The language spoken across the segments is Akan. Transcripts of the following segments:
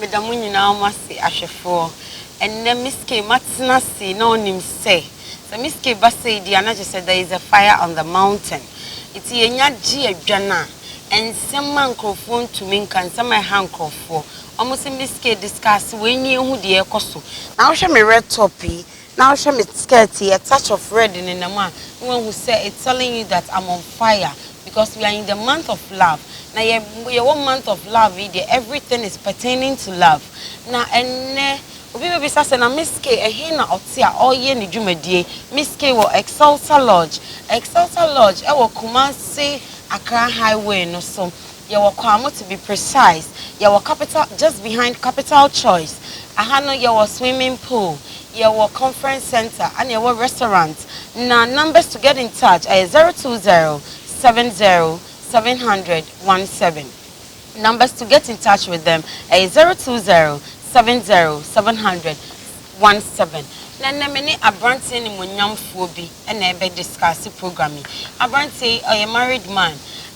Meda mo nyinaa mo ase ahwɛfoɔ. Ɛnnɛ Miss Kay matena ase na ɔnim sɛ sɛ Miss Kay ba sei deɛ a na kyerɛ sɛ there is a fire on the mountain. Nti yɛnya gye adwane a, nsɛm a nkorɔfoɔ ntumi nka, nsɛm a ɛha nkorɔfoɔ. Wɔn se Miss Kay discuss wei nie hu deɛ ɛrekɔ so. Na wohwɛ me red top yi. Now hwɛ me skirt yi a touch of red nenam a na wahu sɛ it's telling you that I'm on fire because we are in the month of love na yɛ yɛwɔ month of love yi deɛ everything is pertaining to love na ɛnnɛ obi bɛbisa sɛ na Miss Kay ɛhe na ɔte a ɔreyɛ ne dwumadie Miss Kay wɔ Excelsa Lodge Excelsa Lodge ɛwɔ Kumasi Accra highway no so Yɛwɔ Kwamo to be precise. Yɛwɔ capital just behind capital choice aha no yɛwɔ swimming pool yɛwɔ conference centre ɛna yɛwɔ restaurant na numbers to get in touch ɛyɛ zero two zero seven zero seven hundred one seven numbers to get in touch with them ɛyɛ zero two zero seven zero seven hundred one seven na nnɛ me ne abranteɛ animuonyamfoɔ bi na ɛbɛ discuss program yi abranteɛ yi ɔyɛ married man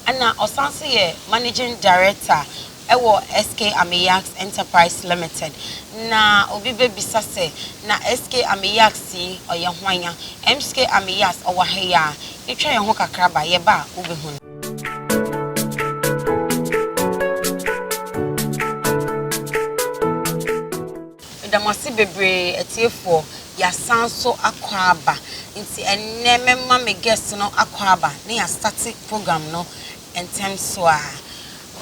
ɛna ɔsan nso yɛ managing director ɛwɔ SK Ameyax enterprise limited na obi bɛ bisa sɛ na SK Ameyax yi ɔyɛ hwan a MSK Ameyax ɔwɔ ha yi a yɛ twa yɛ ho kakra ba yɛ ba a wo bɛ hu no. Meda mo ase bebree atiefoɔ. Y'asan nso akɔ aba. Nti ɛnnɛ mɛma me guest no akɔ aba na y'a start program no ntɛm so ara.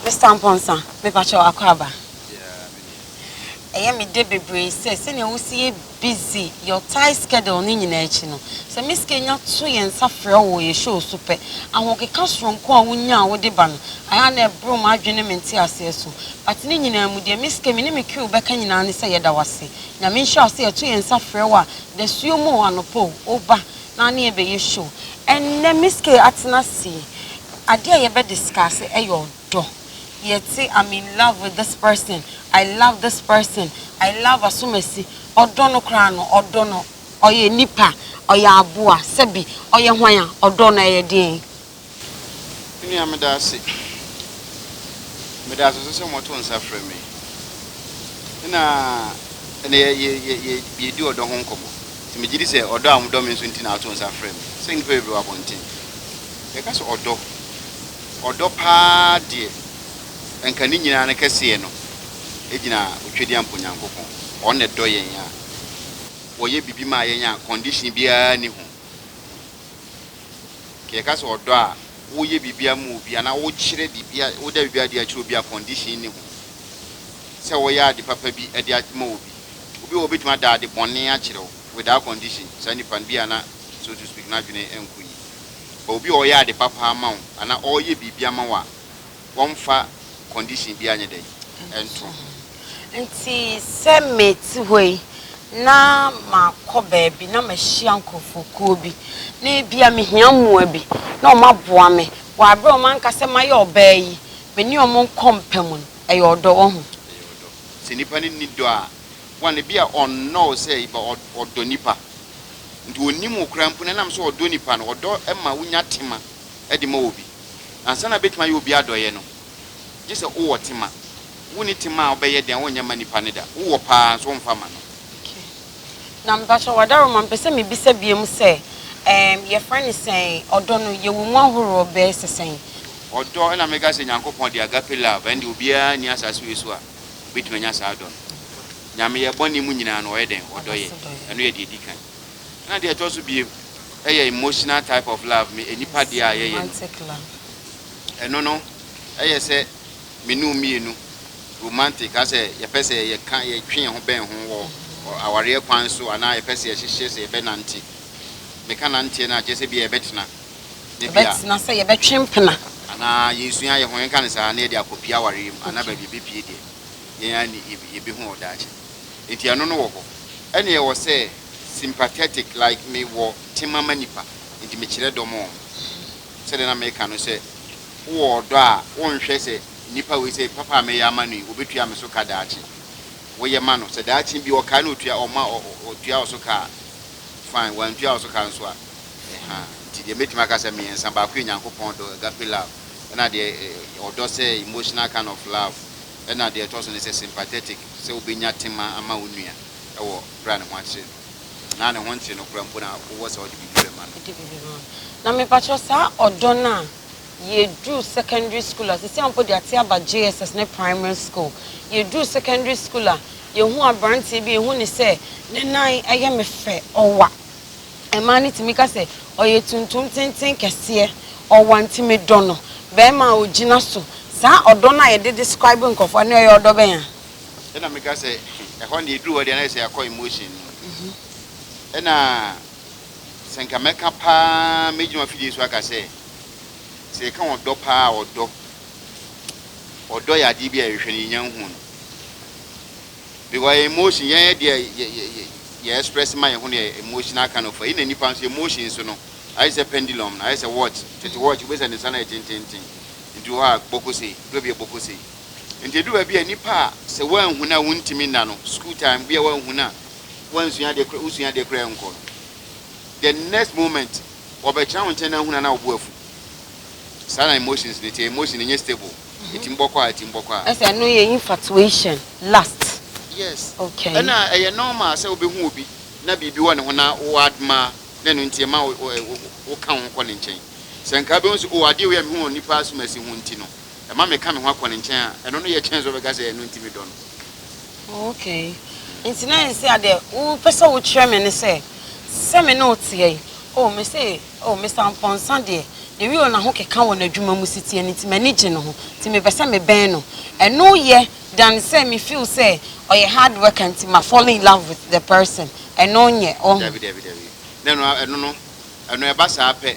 Mister Amponsah, me pakyɛ wo akɔ aba? Yeah, me deɛ. Ɛyɛ me dɛ bebree sɛ, sɛnea wo si yɛ busy your tight schedule ne nyinaa akyi no, sɛ me sika nya to yɛn nsa frɛ wo wɔ yɛ show so pɛ, ahokeka soronko a wo nya a wo de ba no, ayɛ a na ɛboro m'adwene ne me nteaseɛ so. But ne nyinaa mu deɛ, me sika me ne me crew bɛka nyinaa ne sɛ yɛda wo ase. Nyame nhyira wo sɛ yɛto yɛn nsa frɛ wo a dasuo mu o, anɔpa o, woba na ne yɛbɛyɛ show. Ɛnnɛ Miss Kay atena ase yi, adeɛ a yɛbɛ discuss ɛyɛ ɔdɔ. Yɛte I'm in love with this person, I love this person, I love Asomasi. Ɔdɔ no koraa no, ɔdɔ no, ɔyɛ nipa, ɔyɛ aboa, sɛbi ɔyɛ hwan a, ɔdɔ no ɛyɛ deɛn? Me nua, meda ase. Meda ase nso sɛ moto nsa frɛ me na ɛnɛ yɛredi ɔdɔ ho nkɔmmɔ. Nti megye di sɛ ɔdɔ a modɔ me nso nti na woto nsa frɛ me. Sɛ nnipa bebree wɔ abɔnten, yɛka sɛ ɔdɔ, ɔdɔ paa deɛ, anka ne nyinaa no kɛseɛ no gyina Otwadiampo Nyankopɔn. Ɔno na ɛdɔ yɛn a ɔyɛ biribi maa yɛn a condition biara nni ho. Nka yɛka sɛ ɔdɔ a, woyɛ biribiara ma obi anaa wokyerɛ biribiara, woda biribiara adi akyerɛ obi a condition nni ho sɛ woyɛ ade papa bi de ama obi. Obi wɔ hɔ a obetumi ada ade bɔne akyerɛ wo without condition, saa nipa no bi a na so to speak n'adwene nkɔ yie. But obi a ɔyɛ ade papa ama wo anaa ɔreyɛ biribi ama wo a, wɔmfa condition biara nyɛ dɛn? Nto ho. Nti sɛ mete hɔ yi na makɔ baabi na mahyia nkurɔfokuo bi na ebia mehia mmoa bi na wɔn aboa me wɔ aberɛ a wɔn anka sɛ mayɛ ɔbaa yi me ne wɔn nkɔ mpa mu no, ɛyɛ ɔdɔ wahu. Ɛyɛ ɔdɔ. Sɛ nipa no nni dɔ a, one, ebia ɔnnɔ wo sɛ eba ɔ, ɔdɔ nipa. Nti ɔnnim wo koraa mpo na ɛnam sɛ ɔdɔ nipa no, ɔdɔ ma wonya tema de ma obi. Ansa na betumi ayɛ obi adɔeyɛ no, gye sɛ wowɔ tema. Wunni tema a wobɛyɛ den a wonyɛ mma nipa no da. Wowɔ paa nso womfa mma no. Okay. Na mpakyɛw Adaroma, mepɛ sɛ mibisa biom sɛ, ɛɛm, yɛfrɛ no sɛn? Ɔdɔ no, yɛwɔ mu ahoroɔ bɛɛ sɛ sɛn? Ɔdɔ, ɛna meka sɛ Nyankopɔn de agape love, ɛnde obiara nni asase wei so a obetumi anya saa dɔ no. Nyame, yɛn bɔne mu nyinaa no, ɔyɛ dɛn? Ɔdɔ yɛn. Ɛno yɛ deɛ ɛdi kan. Ɛna deɛ ɛtɔ so biem ɛyɛ emotional type of love me enipa deɛ a yɛyɛ no ɛno no ɛyɛ sɛ me ne wo mmienu romantic asɛ yɛpɛ sɛ yɛka yɛtwe yɛn ho bɛn ho wɔ awareɛ kwan so anaa yɛpɛ sɛ yɛhyehyɛ sɛ yɛbɛ nante meka nanteɛ no a kyerɛ sɛ bia yɛbɛtena ne bia yɛbɛtena sɛ yɛbɛtwe mpena anaa yɛsua yɛn ho yɛnka no saa na yɛde akɔpie awareɛ mu anaa baabi yɛbɛpie deɛ yɛn ani yɛbɛhu wɔ daakye nti ɛno no wɔ hɔ ɛna ɛwɔ sɛ Sympathetic like me wɔ tema ma nipa nti me kyerɛ dɔ ma wɔn sɛdeɛ na meka no sɛ wo wɔ ɔdɔ a wo nhwɛ sɛ nipa wei sɛ papa a mɛyɛ ama no yi ɔbɛtua me so ka daakye wo yɛ ma no sɛ daakye bi ɔkae na ɔtua ɔma ɔtua wo so ka a fine wantua wo so ka nso a ɛhaa nti deɛ mɛtumi aka sɛ mmiɛnsa baako yɛ Nyankopɔn dɔ agape love ɛna deɛ ɔdɔ sɛ emotional kind of love ɛna deɛ ɛtɔ so ne sɛ sympathetic sɛ wobɛnya tema ama wo nua ɛwɔ bere a ne ho akyere no, anaa ne ho ntew no koraa mpo na wowɔ sɛ wode biribi bɛma no. Wode biribi bɛma no. Na mepakyɛw, saa ɔdɔ no a yɛduru secondary school a, seesei a mpo yɛate aba JSS ne primary school, yɛduru secondary school a, yɛhu aberanteɛ bi a, yɛhu no sɛ ne nan yɛ me fɛ, ɔwa. Mmaa no tumi ka sɛ, Ɔyɛ tuntum tenten kɛseɛ, ɔwa nti medɔ no. Barima a ɔgyina so. Saa ɔdɔ no a yɛde describe nkurɔfoɔ no, ɔyɛ ɔdɔ bɛn a? Ɛna meka sɛ ɛhɔ no deɛ ɛduru hɔ deɛ na yɛ sɛ yɛakɔ emotion no mu. Ɛna sɛ nka mɛka paa mɛgyina afidie so aka sɛ sɛ yɛka ɔdɔ paa a ɔdɔ ɔdɔ yɛ adeɛ bi a yɛhwehwɛ no yɛnya nhu no because yɛ emotion yɛyɛ deɛ yɛ express ma yɛ ho no yɛ emotional kind of ɛna nipa nso emotion so no ayɛ sɛ pendulum no ayɛ sɛ watch tete watch wobɛsɛ ne nsa no yɛ tententen nti wɔ hɔ a bɔkosei dɔ bi yɛ bɔkosei Nti edu baabi a nnipa a sɛ woanhu no a wontumi nna no, school time bi a woanhu no a woansua adeɛ koraa, wosua adeɛ koraa ɛnkɔ no, the next moment wɔbɛtena wo nkyɛn na ahunu a na wo bo afu. Saa na emotions no te, emotion no nyɛ stable, ɛtumi bɔ kɔ a, ɛtumi bɔ kɔ a. Ɛsɛ ɛno yɛ infatuation, lust. Yes, Okay. ɛna ɛyɛ normal sɛ wobɛhu obi na biribi wɔ ne ho na wo admire na ɛno nti ɛma wo, wo, wo, woka wo ho kɔ ne nkyɛn. Sɛ nka wobɛhu sɛ, oh, adeɛ wei a mehu wɔ nnipa asomasi ho nti no, ɛma meka me ho akɔ ne nkyɛn a, ɛno no yɛ kyɛn sɛ ɔbɛka sɛ ɛno nti medɔ no. Okay. Nti na ɛnsɛ adeɛ wopɛ sɛ wokyerɛ me ne sɛ sɛ me ne wo teɛ yi o me se o me sampɔnsa deɛ ne wie o na ho keka wɔ n'adwuma mu si teɛ no nti m'ani gye ne ho nti mepɛ sɛ me bɛn no ɛno yɛ dan sɛ me feel sɛ ɔyɛ hard worker nti ma fall in love with the person ɛno nyɛ ɔho. Dabi dabi dabi na ɛno ɛno no ɛno ɛba saa pɛ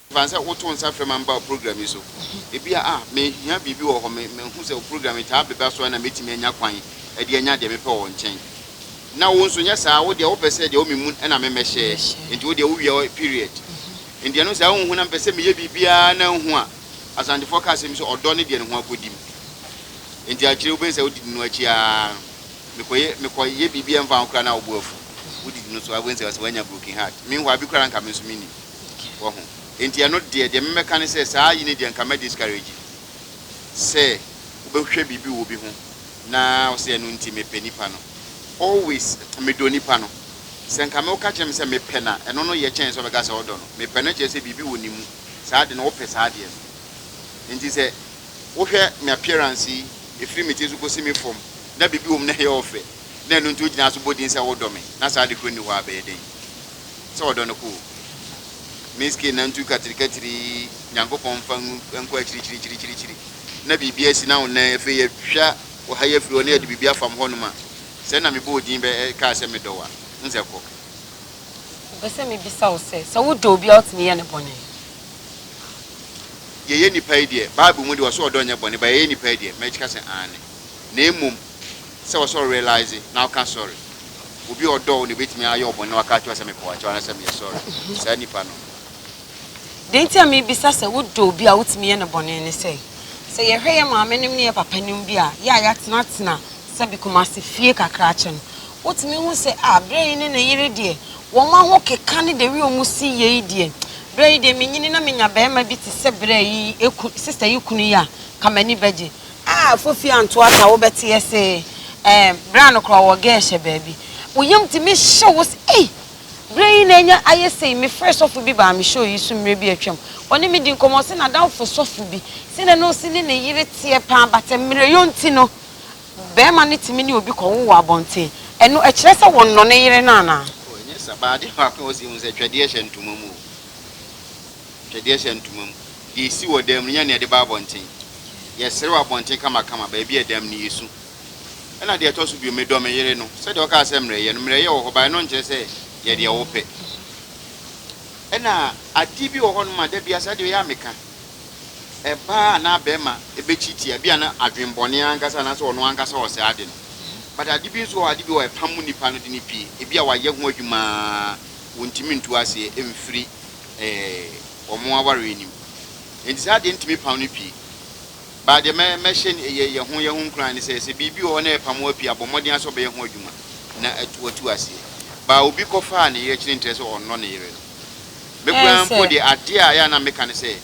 Fa no sɛ wotoo nsa frɛ ma mebaa wo program yi so. Ebia, ah, mehia biribi wɔ hɔ, me, mahu sɛ wo program yi taa bɛba so a na mɛtumi anya kwan de anya deɛ mepɛ wɔ wo nkyɛn. Na wo nso, nyɛ saa, wo deɛ wopɛ sɛ deɛ ɔme mu no na memmɛhyɛ, enti wo deɛ wowia hɔ, period. Enti ɛno saa wonhu na mepɛ sɛ meyɛ biribiara na nhu a, Asantefoɔ ka asɛm bi sɛ, ɔdɔ ne deɛ ne ho akɔdim. Enti akyire wobɛhu sɛ wodidi no akyi ara no, mekɔyɛ, mekɔyɛ biribi a ɛmfa ho koraa na wo bo afu. Wodidi no so a, wobɛhu sɛ ɔse wanya broken heart. Meanwhile bi koraa nka me nso mennim. Wahu? Enti ɛno deɛ, deɛ mɛmɛka ne sɛ, saa yi no deɛ nka mɛ discourage sɛ wobɛhwɛ biribi wɔ obi ho na ɔsɛ ɛno nti mepɛ nipa no. Always medɔ nipa no. Sɛ nka mɛ woka kyerɛ me sɛ mepɛ no a, ɛno no yɛ kyɛn sɛ wobɛka sɛ wodɔ no. Mepɛ no kyerɛ sɛ biribi wɔ ne mu, saa de no wopɛ saa adeɛ no. Enti sɛ wohwɛ me appearance yi, ɛfiri me tiri so kɔsi me fam, na biribi wɔ mu na ɛyɛ ɔfɛ, na ɛno nti wogyina so bɔ din sɛ wodɔ me, na saa de korɔ nni hɔ a, ɛbɛyɛ dɛn? sɛ ɔdɔ no koo. Miss K nantu katirikatiri Nyankopɔn mfa ngu nkɔ akyirikyirikyirikyirikyiri na biribi asi na wo nan afei yɛtwa wo ha yi afiri hɔ na yɛde biribi afam hɔnom a sɛ na mebɔ wo din bɛ kaa sɛ medɔ wo a n sɛ kɔ. Mepɛ sɛ mebisa wo sɛ, sɛ wodɔ obi a wotumi yɛ no bɔne? Yɛyɛ nnipa yi deɛ, Bible mu deɛ ɔse ɔdɔ nyɛ bɔne but yɛyɛ nnipa yi deɛ, mɛkyka sɛ aane. Na mmom. sɛ ɔsɛ ɔ realise na ɔka sorry. Obi a ɔdɔ wo na ebetumi ayɛ wo bɔne na waka akyerɛ wo sɛ mepaw kyɛw anaasɛ meyɛ sorry. Saa nipa no. Deɛ nti a mebisa sɛ wodɔ obi a wotumi yɛ no bɔne ne sɛ, sɛ yɛhwɛ yɛ maamenom ne yɛ papanom bi a yɛ a yɛatenatena sɛbe Kumasi fie kakra kyɛ no, wotumi hu sɛ ah berɛ yi ne ne yere deɛ wɔn ahokeka ne the way wɔn si yɛ yi deɛ, berɛ yi deɛ menyini na menya barima bi te sɛ berɛ yi sister yi kunu yi a, nka m'ani bɛgye. A Fofi Antoa Sa wobɛte ase eh Berɛ a nokorɛ ɔwɔ geh hyɛ baabi Wo yam tumi hye wo se ei Berɛ yi na anya ayɛ sei Me frɛɛ sɔfo bi baa me show yi so mmerɛ bi atwam Ɔne me dii nkɔmmɔ ɔse n'adamfo sɔfo bi se na na ɔse ne ne yere teɛ paa but mmerɛyɔ nti no Bɛɛma no tumi ne obi kɔwo wɔ abɔnten Ɛno ɛkyerɛ sɛ wɔnnɔ ne yere no anaa? Oh ɛnyɛ sa but adeɛ baako a ɔse hu sɛ twɛdeɛ hyɛ ntoma mu o. Twɛdeɛ hyɛ ntoma mu. Deɛ ɛsi wɔ dan mu no, nyɛ nea ɛde ba abɔnten. Yɛsere wɔ abɔnten kamakama, baabi a ɛdam no, yɛsu. Ɛnna deɛ ɛtɔ so bio, medɔ me yere no, sɛdeɛ ɔkaa sɛ mmerɛyɛ no. Mmerɛyɛ wɔ hɔ, but ɛno nkyerɛ sɛ yɛ deɛ wopɛ. Ɛnna adeɛ bi wɔ hɔnom a, da biara saa adeɛ wei ara meka. Ɛbaa anaa barima bɛkyi tia, ebia na adwemmɔne ankasa anaasɛ ɔno ankasa ɔsɛe ade no. But ade bi nso wɔ hɔ a, ade bi wɔ hɔ a, ɛpam nipa no de no pue. Ebia wayɛ ho adwuma ara, wontumi ntu aseɛ mfiri ɛɛ wɔn awareɛ nim. Nti saa deɛ ntumi pam no pii. Baa deɛ mɛ mɛhyɛ yɛ yɛ ho yɛ ho nkuran ne sɛ sɛ biribi wɔ hɔ na ɛpam wo pii a bɔ mmɔden ara sɛ ɔbɛyɛ ho adwuma na atu watu aseɛ. Baa obi kɔ faa ne yere kyene nkyerɛ sɛ ɔnnɔ ne yere no. Me koraa mpo deɛ adeɛ a yɛ a na meka ne sɛ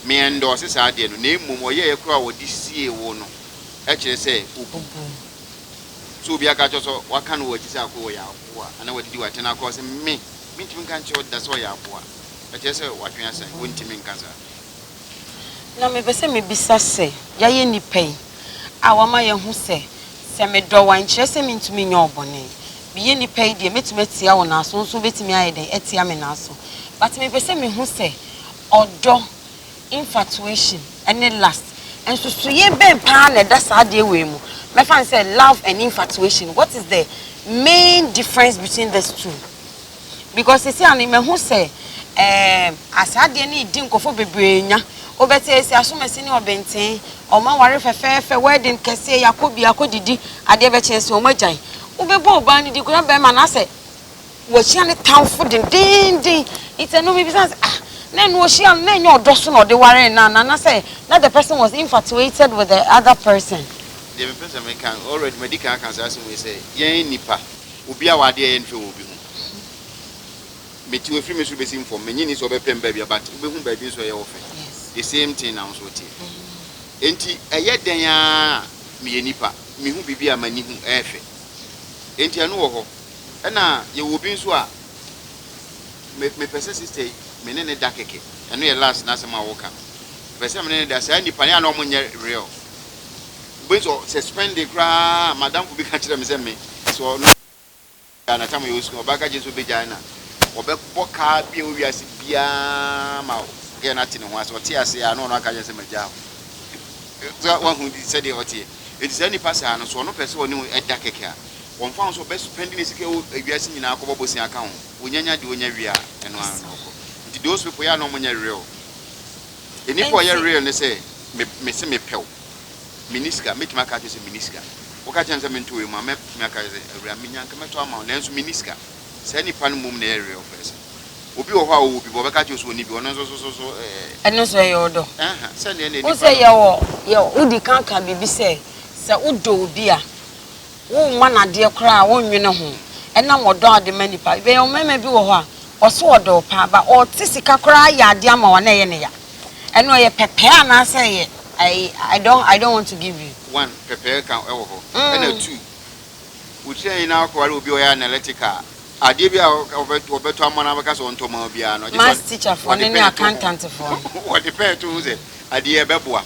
me ɛndɔɔse saa adeɛ no na mmom ɔyɛeɛ koraa a ɔde siee wo no ɛkyerɛ sɛ obu. Sɛ obi aka akyerɛ wo sɛ waka no wɔ akyi sɛ akoa wɔ yɛ akoa anaa wadidi w'atɛn akoa sɛ me. mentumi nka nkyerɛ wo da sɛ ɔyɛ aboa. Ɛkyerɛ sɛ w'adwene asa yi, wontumi nka saa. Na mepɛ sɛ mebisa sɛ, yɛayɛ nnipa yi a wɔama yɛahu sɛ, sɛ medɔ wo a, nkyerɛ sɛ mentumi nyɛ wo bɔne. Meyɛ nnipa yi deɛ, mɛtumi atia wo naaso, wo nso wobɛtumi ayɛ dɛn? Atia me naaso. But mepɛ sɛ mehu sɛ ɔdɔ. Infatuation ne lust, nsusuiɛ bɛn paa na ɛda saa adeɛ wei mu? Mɛfa no sɛ love and infatuation, what is the main difference between this two? Because seesei ano yi mahu sɛ ɛɛm saa adeɛ no redi nkurɔfoɔ bebree nya. Wobɛte seesei asomasi ne ɔbenten, wɔaware fɛfɛɛfɛ, wedding kɛseɛ, yɛakɔ bia akɔdidi, adeɛ bɛkye nso wɔagyae. Wobɛbɔ ɔbaa no din koraa, bɛrima no asɛ. Wahyia ne tamfo dendeenden. Nti ɛno mebisa no sɛ, ah, na ɛno ɔhyia no, na ɛnyɛ ɔdɔ so na ɔde waree no anaa? Anaasɛ na the person was infatuated with the other person? Deɛ mepɛ sɛ meka, already madi kan aka saa asɛm wei sɛ, yɛn nnipa, obi a w'adeɛ yɛ nhwɛ wɔ obi ho. Mete hɔ, ɛfiri me soro bɛsim fam, mennye nni sɛ ɔbɛpɛ me baabi a, but wobɛhu baabi nso a ɛyɛ wo fɛ. The same thing na wo nso woteɛ. Enti ɛyɛ dɛn ara a meyɛ nipa, mehu biribi a m'ani hu, ɛyɛ fɛ. Enti ɛno wɔ hɔ. Ɛna yɛwɔ obi nso a me mepɛ sɛ sister yi me ne ne da kɛkɛ. Ɛno yɛ last n'asɛm a ɔka no. Mepɛ sɛ me ne ne da. Saa nnipa no yɛ a na wɔn nyɛ real. Wobɛhu sɛ sɛ spending koraa madamfo bi ka kyerɛ me sɛ me sɛ ɔno Ghana tam yɛ osu ɔbaa ka kyerɛ sɛ obegyae na ɔbɛbɔ kaa bi a owiase biara ma gɛɛ no ate ne ho ase ɔte ase a na ɔno aka kyerɛ sɛ magyaa hɔ. Sɛ wahu sɛdeɛ ɔteɛ. Enti saa nnipa saa no so ɔno pɛ sɛ ɔne wo ɛda kɛkɛ a Wɔmfa ho sɛ ɔbɛ spɛndi ne sika wɔ ewiase nyinaa kɔbɔ bosea ka ho, onya nya deɛ onya wie a, ɛno ara na ɔkɔ. Nti those people yɛ a na ɔmo nyɛ real. Enipa a ɔyɛ Ɛnti. real ne sɛ, me mese me pɛ wo, me ni sika, mɛtumi aka akyerɛ sɛ me ni sika. Wo ka kyerɛ me sɛ me ntɔ wei mma wo, mɛ tumi aka sɛ awura me nya nka mɛtɔ ama wo, nanso me ni sika. Saa nipa no mmom na ɛyɛ real person. Obi wɔ hɔ a ɔwɔ bi but ɔbɛka akyerɛ wo sɛ ɔnni bi, ɔno nso so so so ɛɛ. Ɛno nso ɛyɛ ɔdɔ. Ɛɛha, sɛdeɛ na Wo enipa sɛ no. yɛwɔ yɛ wodi kan ka biribi sɛ, sɛ wo dɔ obi a, Womma no adeɛ koraa, wonnwene ho, ɛnam ɔdɔ a wode ma nnipa. Bɛyɛ wo mmarima bi wɔ hɔ a, ɔso ɔdɔ wo paa, but ɔte sika koraa yɛ adeɛ ama wo a na ɛyɛ no ya. Ɛno ɛyɛ pɛpɛɛ anaasɛ ɛyɛ I don't I don't want to give you. One, pɛpɛɛ ka wɔ hɔ. Ɛna two, wokyerɛ nyinaa wokɔware obi a ɔyɛ analytical a, adeɛ bi a ɔbɛtɔ ama wo na wobɛka sɛ ɔntɔ mma wo biara no, ɔgye sɛ ɔde pɛn to ho. Ɔde pɛn to ho sɛ adeɛ yi ɛbɛboa.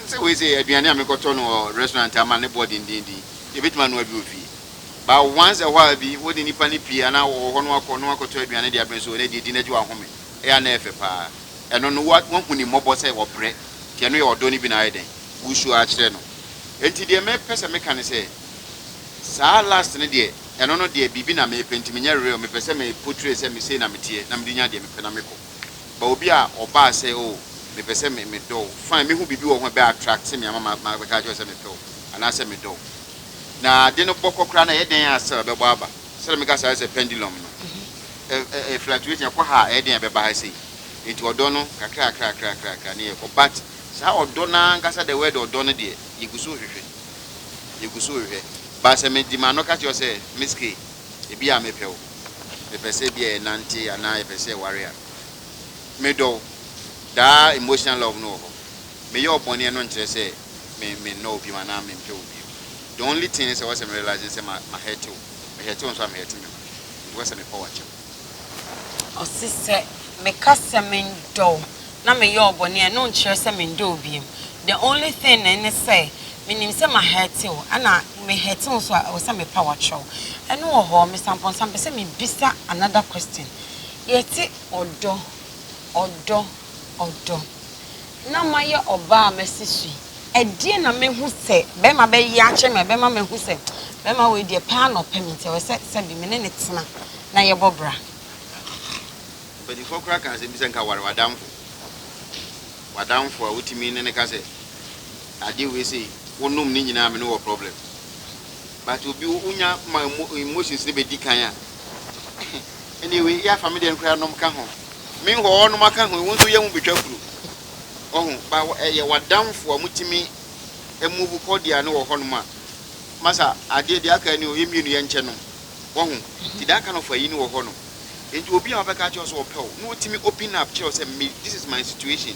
Te sɛ wei sei, aduane a mekɔtɔ no wɔ restaurant ama ne boɔ dendeenden yi, yɛbɛtumi anoa bi wɔ fie. But once a while bi, wode nnipa no pie anaa wɔwɔ hɔ na woakɔ na woakɔtɔ aduane de abrɛ nso ɛ, na ɛdeɛ di no agye wo ahome. Ɛyɛ a na ɛyɛ fɛ pa ara. Ɛno no, wo, woahu ne mmɔbɔ sɛ ɔbrɛ. Nti ɛno yɛ ɔdɔ no bi na ayɛ dɛn? Woresu ara kyerɛ no. Nti deɛ mepɛ sɛ meka ne sɛ, saa last no deɛ, ɛno no deɛ biribi na merepɛ nti menyɛ real, mepɛ sɛ me portray sɛ me sei na meteɛ na mede nya deɛ mepɛ na mekɔ. But obi a ɔbaa sɛ oh mepɛ sɛ me medɔ wo, fine mɛhu biribi wɔ wo ho a ɛbɛ attract me ama ma mabɛka akyerɛ wo sɛ mepɛ wo anaasɛ medɔ wo. Na ade no bɔkɔ koraa no ɛyɛ dɛn a still ɛbɛbɔ aba? Sɛdeɛ meka saa sɛ pendulum no, ɛ ɛ ɛ fluctuating, ɛkɔ ha a ɛyɛ dɛn a ɛbɛba ha sei? Enti ɔdɔ no kakra kakra kakra kakra kakra ne yɛkɔ but saa ɔdɔ no ara ankasa the word ɔdɔ no deɛ yɛgu so rehwehwɛ, yɛgu so rehwehwɛ. But sɛ mede m'ano ka kyerɛ wo sɛ Miss Kay, Ebia mepɛ wo. Mepɛ sɛ ebia yɛnante anaa yɛpɛ sɛ yɛware a. Medɔ wo. Daa emotional love no wɔ hɔ. Meyɛ wo bɔne no nkyerɛ sɛ me mennɔ wo bio anaa mempɛ wo bio. The only thing ne sɛ ɛwɔ sɛ me realise ne sɛ ma ma hɛɛte wo. Me hɛɛte wo nso a me hɛɛte me ho. Nti ɛwɔ sɛ mepɔw akyɛm. Ɔse sɛ meka sɛ mendɔ wo na meyɔɔ bɔne a ɛno nkyerɛ sɛ mendɔ wo biom the only thing ne ne sɛ menim sɛ ma hurt wo ɛna me hurt wo nso a ɛwɔ sɛ mepa wakyerɛ wo ɛno wɔ hɔ Mister Amponsah mepɛ sɛ mebisa another question yɛte ɔdɔ ɔdɔ ɔdɔ na mayɛ ɔbaa a masi so yi ɛdeɛn na mɛhu sɛ bɛrima bɛyɛ akyerɛ me a ɛbɛma mahu sɛ bɛrima wei deɛ paa na ɔpɛ me nti ɛwɔ sɛ sɛbi me ne ne tena na yɛbɔ bra. Mpanimfoɔ koraa ka asɛm bi sɛ nka ware w'adamfo. W'adamfo a wotumi ne no ka sɛ adeɛ wei sei, wonom ne nyinaa me ne wɔ problem. But obi wonya ma emotions no bɛdi kan a, ɛne wei yɛ afa me deɛ no koraa nom ka ho. Me hɔ ɔnom aka ho, wo nso yɛ ho bɛtwa kuro. Ɔho, ba ɛyɛ w'adamfo a motumi move kɔ deɛ ne wɔ hɔnom a, masa adeɛ deɛ aka ni o, yɛ mmienu yɛnkyɛ nom. Ɔho, ti da kind of ayi ne wɔ hɔnom. Enti obi a ɔbɛka akyerɛ wo sɛ ɔpɛ wo na otumi open up kyerɛ wo sɛ me this is my situation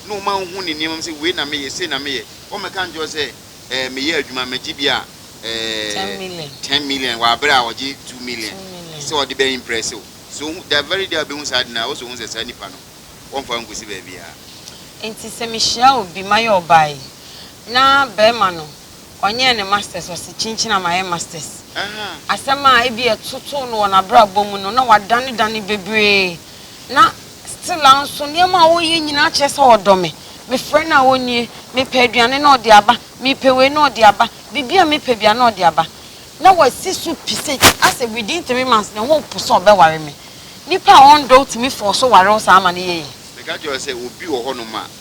na ɔma wohu ne nneɛma mu sɛ wei na meyɛ, sei na meyɛ, ɔmmɛka nkyerɛ wo sɛ ɛɛ meyɛ adwuma magye bi a ɛɛ ten million wɔ abere a ɔgye two million sɛ ɔde bɛ impress wo. So ohu the very day a obehu saa ade no ara ɔsɛ ohu sɛ saa nipa no wɔmfa wo nkosi baabiara. Enti sɛ mehyia obi mayɛ ɔbaa yi na bɛrima no. Ɔnyɛɛ ne masters, ɔse kyinkyin a mayɛ masters. Asɛm a ebia ɛtotoo no wɔ n'abrabɔ mu no, na wadanedane bebree, na still ara nso nneɛma a ɔreyɛ nyinaa kyerɛ sɛ ɔdɔ me. Mefrɛ no a ɔnnie, mepɛ aduane na ɔde aba, mepɛ wei na ɔde aba, biribi a mepɛ biara na ɔde aba. Na wasi so pi sɛ asɛ within three months ne ho repo sɛ ɔbɛware me. Nipa a ɔndɔ wo tumi force wo ware wo saa ama no yɛ yie. Meka kyerɛ wo sɛ obi wɔ hɔnom a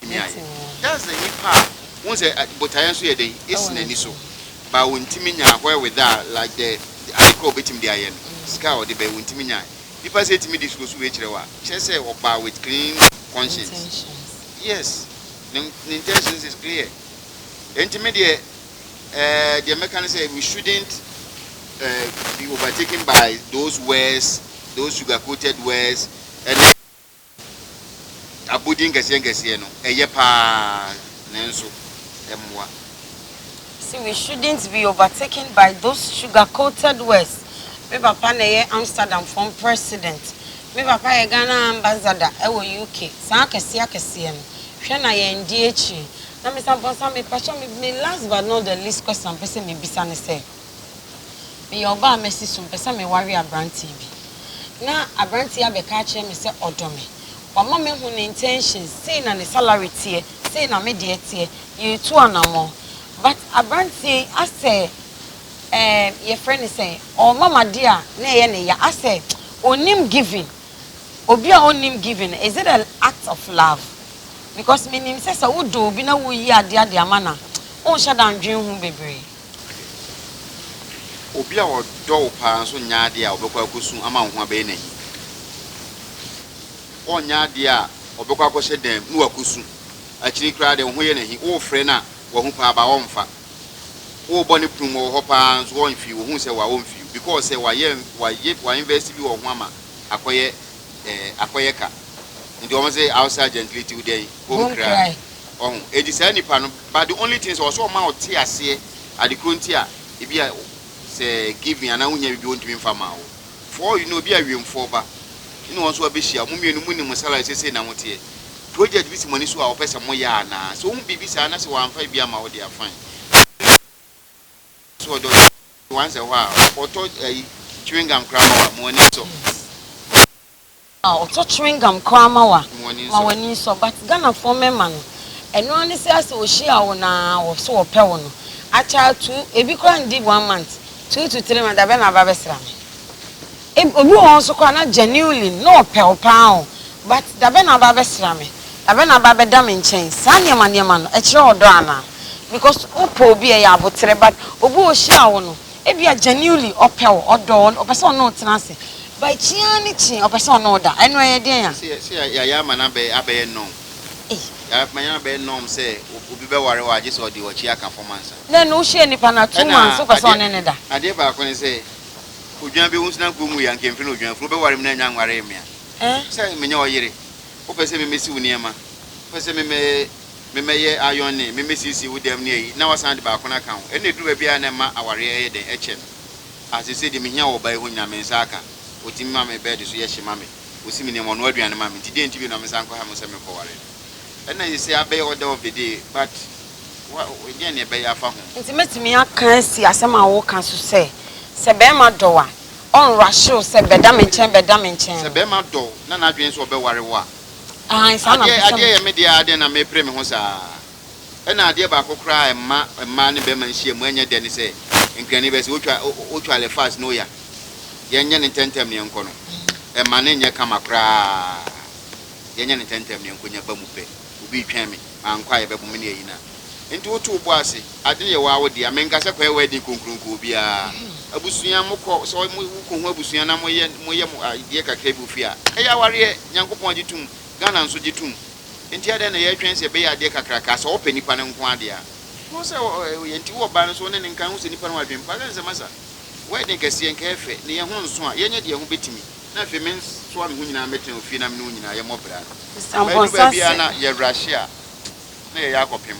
betumi ayɛ. That's the nipa a wohu sɛ botaeɛ nso yɛ dɛn ɛsi n'ani so ba wɔntumi nyaa where with that like the ade korɔ wɔbɛtumi de ayɛ no sika a ɔde bɛyɛ wɔntumi nyae nipa sɛ ɛtumi de suo so wei kyerɛ wo a kyerɛ sɛ ɔbaa with clean conscience yes ne ne intentions is clear ɛnti me deɛ eh, deɛ mɛka ne sɛ we shouldn't uh, be overtaken by those words those sugar coated words ɛne Abodin nkɛseɛnkɛseɛ no, ɛyɛ paa nanso ɛmmoa. Sɛ we shouldn't be overtaken by those sugar coated words Me papa na ɛyɛ Amsterdam fɔm president Me papa yɛ Ghana ambassador ɛwɔ UK Saa akɛseɛakɛseɛ no Hwɛ na yɛn di akyire Na me san pɔn sa me pakyɛw me last but not the least question a mpɛ sɛ me bisa ne sɛ. Meyɛ ɔbaa a masi so, mepɛ sɛ meware aberanteɛ bi. Na aberanteɛ yi abɛka akyerɛ me sɛ ɔdɔ me. Wama mahu ne intentions, sei na ne salary teɛ, sei na me deɛ teɛ, yɛretu anammɔn. But aberanteɛ yi asɛ ɛɛ yɛfrɛ no sɛn, ɔrema me adeɛ a na ɛyɛ ne ya, asɛ ɔnnim giving. Obi a ɔnnim giving no, is it an act of love? Because menim sɛ sɛ wodɔ obi na woreyi adeɛ de ama no a, wonhyɛ da nnwene ho bebree. Ade nso, obi a ɔdɔ wo paa nso nnya adeɛ a ɔbɛkɔ akɔsu ama wo ho abɛyɛ no ahi. Ɔnnya adeɛ a ɔbɛkɔ akɔhyɛ dan mu na wakɔsu. Akyiri koraa deɛ, wo ho yɛ no ahi. Worefrɛ no a, wahu paa baa ɔmfa. Worebɔ no prum wɔ hɔ paa nso ɔnhwee, ɔhu sɛ waa ɔmfii. Because sɛ wayɛ wayɛ wa invest bi wɔ wo ho ama akɔyɛ eh, akɔyɛ ka. Nti wɔn se outside gentility wo dɛn? Home cry. Ɔho. Enti saa nipa no. but the only thing sɛ ɔsɛ ɔma ɔte aseɛ ade korɔ nti a ebi a sɛ giving anaa wohia biribi ɔntumi mfa maa wo for all you know ebi a wiemfoɔ ba ne wɔn nso abɛhyia mo mmienu mo nim mo salary sɛ sei na mo teɛ project bi si mo ani so a wɔpɛ sɛ mo yɛ anaa sɛ wohu biribi saa na sɛ wɔamfa ebi ama wo deɛ a fine so ɔdɔ once a while ɔtɔ ayi chewing gum koraa ma wo a mo ani sɔ. Aw to chewing gum koraa ma wa ma wani nsɔ but Ghana foɔ mɛma no ɛno ara ne sɛ asɛ wɔ hyia wo na wɔ so wɔ pɛ wo no akyɛ ato ebi koraa ndi one month two to three month dabɛ na aba bɛ sra me eb obi wɔ hɔ nso koraa na genuinely na ɔpɛ wo paa o but dabɛ na aba bɛ sra me dabɛ na aba bɛ da me nkyɛn saa nneɛma nneɛma no ɛkyerɛ ɔdɔ anaa because wo pɛ obi ɛyɛ aboterɛ but obi wɔ hyia wo no. Ebia genuinely ɔpɛ wo, ɔdɔ wo, ɔpɛ sɛ ɔne wo tena ase, but kyeɛ ara ne kyeɛ ɔpɛ sɛ ɔne wo da. Ɛno ɛyɛ deɛn a? Sɛ sɛ yɛayɛ ama no abɛyɛ norm. Yɛama no abɛyɛ norm sɛ obi bɛware wo a, gye sɛ ɔde w'akyi aka fam ansa. Na ɛno wohyɛɛ nipa no a, two months wopɛ sɛ ɔne no da. Ɛna adeɛ baako ne sɛ, odwan bi, wonsi nanka ɔnwuiɛ a, anka ɛmfiri n'odwanfunu. Wobɛware me na ɛnyɛ anwaree me a, wopɛ sɛ menyɛ wo yere, wopɛ sɛ me mɛsi wo nneɛma, wopɛ sɛ me mɛ. memɛyɛ iron ne memɛsiesie wo dɛm ne ayi na wasan de baako no aka ho ɛna ɛduru baabi a na ɛma awareɛ ɛyɛ dɛn ɛkyɛ no ah sesei deɛ mehia wɔ ɔbaa yi hɔ nyinaa mensa aka ɔtumi ma me bed so yɛ hye ma me ɔsi me nneɛma ɔnoa aduane ma me nti deɛn nti bio na mensa nkɔha mu sɛ mekɔware no ɛna sesei abɛyɛ order of the day but wa deɛn na ɛbɛyɛ afa ho. Nti mɛtumi aka asi asɛm a woka so sɛ sɛ bɛɛma dɔ wo a ɔnrushe wo sɛ bɛda me nkyɛn bɛda me nkyɛn no. Sɛ bɛɛma dɔ wo na n'adwene sɛ ɔbɛware wo a. Aane, saa ara na Adeɛ, adeɛ yɛ me deɛ aa dɛn na mepere me ho saa? Ɛna adeɛ baako koraa a ɛmma mmaa ne barima nhyiamu ɛnyɛ dɛ ne sɛ Nkrani bɛse wotwa, wotwa le fast na oya. Yɛnyɛ no ntɛntɛm na yɛnkɔ no. Ɛmma no nyɛ kama koraa. Yɛnyɛ no ntɛntɛm na yɛnkɔ nya ba mu pɛ. Obi retwɛn me. mankɔ a yɛbɛbɔ me ne ayi no a. Enti woto wo bo ase, ade no yɛ wo ara wo dea. Menka sɛ kɔ yɛ w'adin kronkron kɔ obiara. Abusua, mokɔ, sɛ mo kɔ hu abusua na moyɛ moyɛ mo adeɛ kakra bi wɔ fie a, ɛyɛ awareɛ. Nyankopɔn agye tom, Ghana nso gye tom. Enti adɛn na yɛretwɛn sɛ ɛbɛyɛ adeɛ kakrakaa, sɛ wɔpɛ nipa no nko ara deɛ a. Hu sɛ ɔyɛ, nti wo ɔbaa no nso wo ne no nka, hu sɛ nipa no wɔ adwene pa. Sɛ nsɛm asa, w'adin kɛseɛ, nka ɛfɛ, ne yɛn ho nso a, yɛnyɛ deɛ ɛho bɛtumi. na afei mensoa me ho nyinaa mmɛtena ofie na me ne wo nyinaa yɛmmɔ bra no. Ɛdu baabi a na yɛrehye a, na yɛyɛ akɔpem.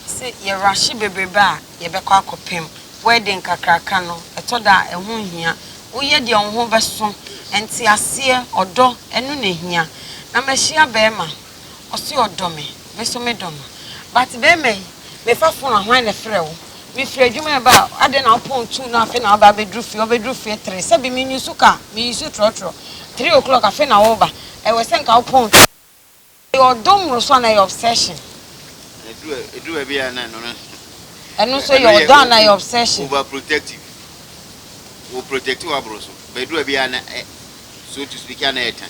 Sɛ yɛrehye bebrebe a, yɛbɛkɔ akɔpem. Wedding kakraka no, ɛtɔ da a, ɛho nhia. Woyɛ deɛ wo ho bɛso. Nteaseɛ, ɔdɔ, ɛno na ɛhia. Na mahyia barima. ɔse ɔdɔ me me so me dɔ no but bɛɛma yi me fa phone a hwan na ɛfrɛ wo me firi adwuma ɛba a adɛn na wo phone two na afei na aba abɛduru fie ɔbɛduru fie three sɛbi me nyusu ka me yusu trɔtrɔ three o'clock afei na wo ba ɛwɛ sɛ nka wo phone two ɛyɛ ɔdɔ mmoroso ana ɛyɛ obsession. Ɛduru baabi a na ɛno no nso. Ɛno nso yɛ ɔdɔ a na ɛyɛ obsession. Over protective. Wo protect w'aboro so. Bɛduru baabi a na so to speak a na ɛyɛ tan.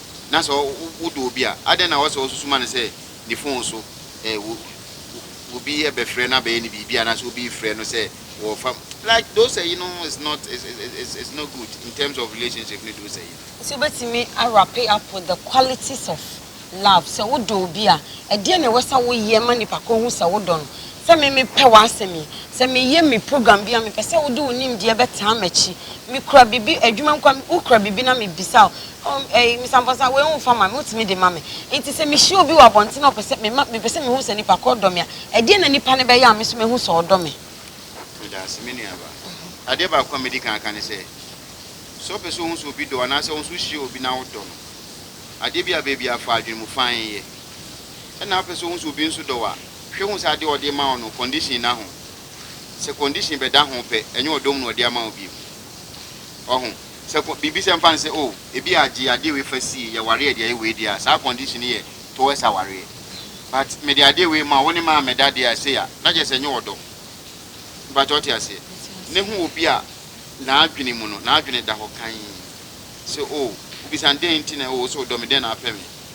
na sɛ wodɔ obi a, adɛn na ɛwɔ sɛ wosusu ma no sɛ ne fon so obi bɛfrɛ no abɛyɛ no biribi anaasɛ obi refrɛ no sɛ wɔrefa mu? Like those ayi no is not is is is not good in terms of relationship ne those ayi no. Sɛ wobɛtumi a wrape up with the qualities of love, sɛ wodɔ obi a, ɛdeɛn na ɛwɔ sɛ woyɛ ma nipa korɔ hu sɛ wodɔ no? Sɛ me mepɛ w'asɛm yi. Sɛ meyɛ me program bi a, mepɛ sɛ wode wo nimdeɛ bɛtaa m'akyi. Mekura biribi, adwuma nko a, wokura biribi na mebisa wo, oh, ɛyi, Mister Amponsah, wei womfa ma me, wotumi de ma me. Enti sɛ mehyia obi wɔ abɔnten na ɔpɛ sɛ, mema, mepɛ sɛ mehu sɛ nipa korɔ dɔ me a, ɛdeɛn na nipa no bɛyɛ a me nso mɛhu sɛ ɔdɔ me? Meda ase, me nuabaa. Adeɛ baako a mɛdi kan aka ne sɛ, sɛ wopɛ sɛ wohu sɛ obi dɔ wo anaasɛ wo nso wohyia obi na wodɔ no, adeɛ bi a bɛyɛ biara fa adwene mu fann yɛ. Ɛnna wopɛ sɛ wohu sɛ obi nso dɔ wo a, Hwɛ hu sɛ adeɛ a ɔde rema wo no condition nna ho. Sɛ condition bɛda ho pɛ, ɛnyɛ ɔdɔ mu na ɔde ama wo bio. Wahu? Sɛ kɔ, biribi sɛ mfa no sɛ, oh, ebi a gye adeɛ wei fa sie, yɛware a ɛde ayɛ wei deɛ a, saa condition no yɛ towards awareɛ. But mede adeɛ wei ma wo, wo ne maa meda deɛ a, sei a, na kyerɛ sɛ ɛnyɛ ɔdɔ. Mpakyɛ wote aseɛ? Ne hu obi a n'adwene mu no, n'adwene da hɔ kann sɛ, oh, wobisa no dɛn nti na, oh, wo sɛ wodɔ me, dɛn na apɛ me?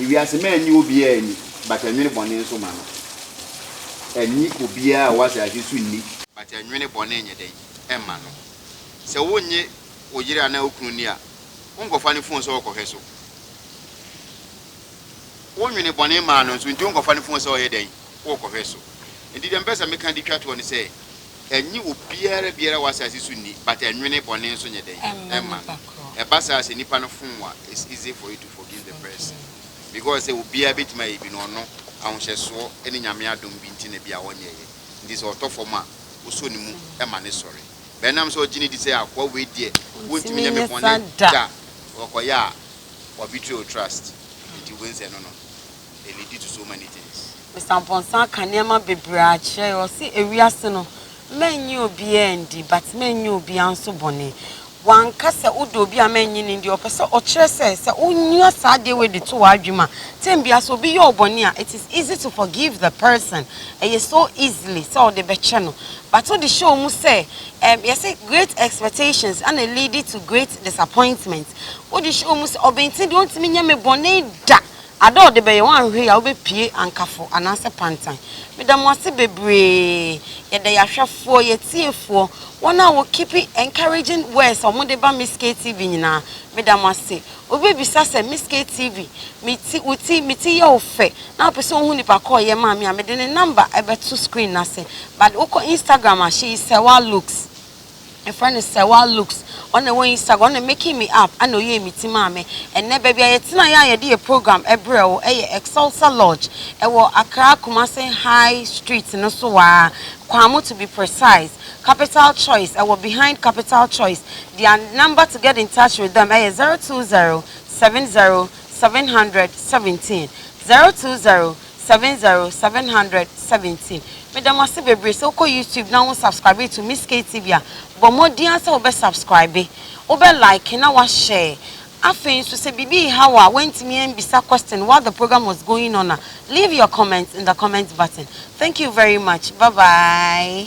Ewiase ma ɛnnye obiara nni, but ɛnwene bɔne nso ma no. Ɛnnye obiara a ɔwɔ asase so nni, but ɛnwene bɔne nyɛ dɛn? Ɛmma no. Sɛ wonnye wo yere anaa wo kunu nni a, wonkɔfa ne fon sɛ ɔkɔhwɛ so. Wonwene bɔne maa no nso, nti wonkɔfa ne fon sɛ ɔyɛ dɛn? Wokɔhwɛ so. Nti deɛ mepɛ sɛ meka de twa toɔ ne sɛ, Ɛnnye obiara biara wɔ asase so nni, but ɛnwene bɔne nso nyɛ dɛn? Ɛmma no. Ɛba saa sɛ nipa no fom wo a, it's easy for you to forgive the person because sɛ obiara bɛtumi ayɛ bi no, ɔno, ahohyɛsoɔ ne Nyame adom bi nti na bi a ɔnyɛeɛ. Nti sɛ ɔtɔ fam a, wosɔ ne mu ma no sɔre. But ɛnam sɛ ɔgye no di sɛ akoa wei deɛ ɔntumi nyɛ me bɔne da, ɔkɔyɛ a, wa betray wo trust. Nti wobɛhu sɛ ɛno no. and it lead to so many things. Mister Amponsah ka nneɛma bebree akyerɛ yɛ ɔse ewiase no mɛnye obiaa ndi but mɛnye obiaa nso bɔne wanka sɛ wodɔ obi a mɛnye no ndi ɔpɛ sɛ ɔkyerɛ sɛ sɛ wonya saa adeɛ wei de to w'adwene mu a time biaa sɛ obi yɛ wo bɔne a it is easy to forgive the person ɛyɛ so easily sɛ wode bɛkyɛ no but wode hyɛ wɔ mu sɛ ɛm yɛse great expectations ana lead to great disappointment wode hyɛ wɔ mu sɛ ɔbɛnti deɛ ɔntumi nyɛ me bɔne da Ada a ɔde bɛyɛ wɔn ahwehwɛ yi a wobepue ankafo anaasɛ pantan. Meda mo ase bebree. Yɛda yɛn ahwɛfoɔ, yɛn atiefoɔ, wɔn a wɔ keep encouraging words a wɔde ba Miss KTV nyinaa, meda mo ase. Obi bɛbisa sɛ, Miss KTV, me ti, wo ti, me ti yɛ wo fɛ, na wopɛ sɛ wohu nipa ko a ɔyɛ maa me a, mede ne number bɛto screen no ase. But wokɔ Instagram a, she is Sewaa Looks. Yɛfrɛ no Sewa Looks. Ɔna wɔyi saga, ɔna making me up, ɛna ɔyɛɛ me ti maa me. Ɛnnɛ baabi a yɛtenaeɛ a yɛde yɛ program brɛɛ wo yɛ Excelsa Lodge. Ɛwɔ Accra Kumasi High Street no so aa, Kwamo to be precise. Capital Choice, ɛwɔ behind Capital Choice. Their number to get in touch with them ɛyɛ 020 70 700 17, 020. Seven zero seven hundred seventeen meda mo ase bebree sɛ wokɔ YouTube na wo subscribe to Miss Kay TV a bɔ mmɔden ara sɛ wobɛ subscribe wobɛ like na wa share afei nso sɛ biribi reha wo a woantumi ambisa question while the program was going on a leave your comment in the comment button thank you very much bye bye.